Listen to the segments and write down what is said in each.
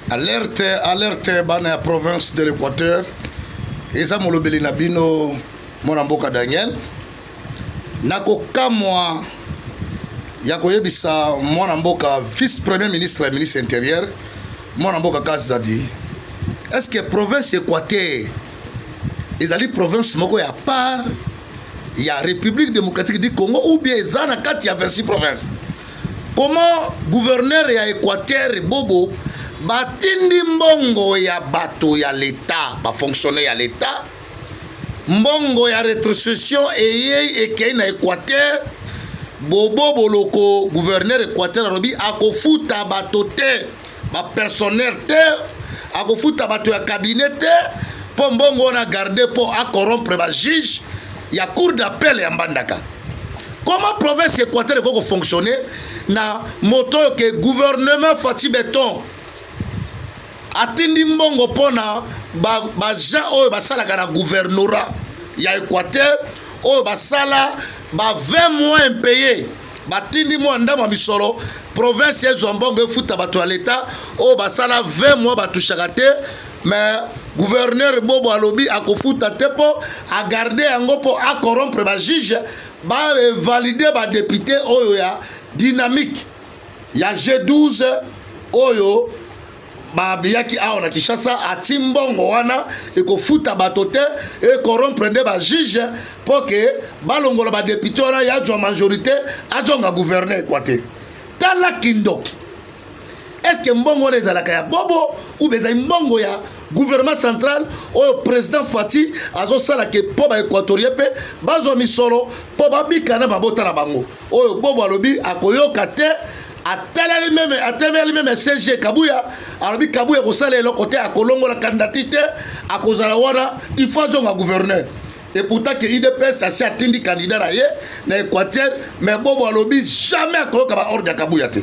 alerte alerte bana ya province de l'équateur eza molobeli na bino mwana mboka daniel nakokamwa ya koyebisa mwana mboka vice premier ministre ya ministre intérieur mwana mboka kazadi est ce que province équateur ezali province moko ya part ya république démocratique du congo ou bien eza na kati ya 26 province comment gouverneur ya équateur bobo batindi mbongo ya bato ya leta bafonctionnaire ya leta mbongo ya retrocession eyei ekei na équateur bobo boloko gouverneur équateur alobi akofuta bato te bapersonnel te akofuta bato ya cabinet te mpo mbongo wana garde mpo acorompre bajuge ya cour d'appel ya mbandaka comment province équateur ekoki kofonctionne na moto oyo ke gouvernement faci beton atindi mbongo mpo na bajean oyo basalaka na gouvernorat ya équateur oyo basala ba 20 mois impayé batindi mwa ndambo ya misolo province ezwa mbongo efuta bato ya leta oyo basala 20 mwa batushaka te mais gouverneur bobo alobi akofuta te mpo agarde yango mpo acorompre bajuge bavalide badepute oyo ya dynamique ya g12 oyo babiyaki awa na kinshasa ati mbongo wana ekofuta bato te ekorompre nde bajuge mpo ke balongola badepute wana ya jwa majorité ajonga gouverne ekwa te tala kindoki estce mbongo wana ezalaka ya bobo ube ezali mbongo ya gouvernement central oyo président fati azosala ke mpo baéquatorien mpe bazwa misolo mpo babika na mabota na bango oyo bobo alobi akoyoka te atalali meme atemeli meme cg kabuya alobi kabuya kosala eloko te akolongola kandidati te akozala wana il faut azonga gouverneur et pourtant que idps asi atindi candidat na ye na équateur mais bobo alobi jamais akoyoka baordre ya kabuya te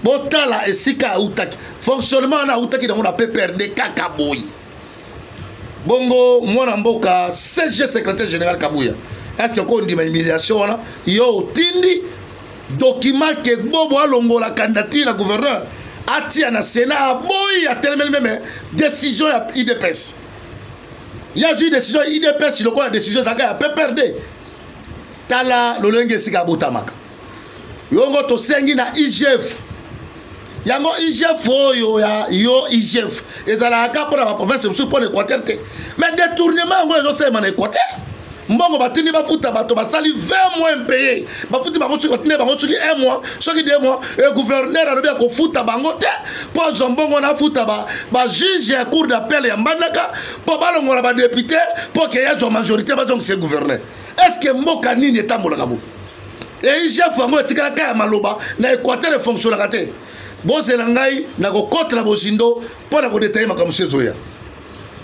botala esika autaki fonctionnement wana autaki nango na pprd kaka boye bongo mwana mboka cg secrétaire général kabuya estce oko ondima humiliation wana yo otindi dokima ke bobo alongola candidature ya gouverneur atia na sénat aboyi atelemeli meme décision ya idps ye azwi décision ya idps lokola décision ezalaka ya pprd tala lolenge esika abotamaka yongo tosengi na igf yango igf oyo ya yo igf ezalaka kaka mpo na baprovince mosusu mpo na équateur te mais détournement yango ezosalema na équateur mbongo batindi bafuta bato basali 20 mois impayé bafuti bango soki batindi bango soki 1 mois soki 2 mois e gouverneur alobi ya kofuta bango te mpo azwa mbongo wana afuta bajuge ba ya cour d'appel ya mbandaka mpo balongola badepute mpo ke yazwa majorité bazongisa gouverneur est ce que mboka nini etambolaka bo egf yango etikala ka ya maloba na équateur efonctionnaka te bozela ngai nakokota na bozindo mpo na kodetaye makambo mosusu ezoya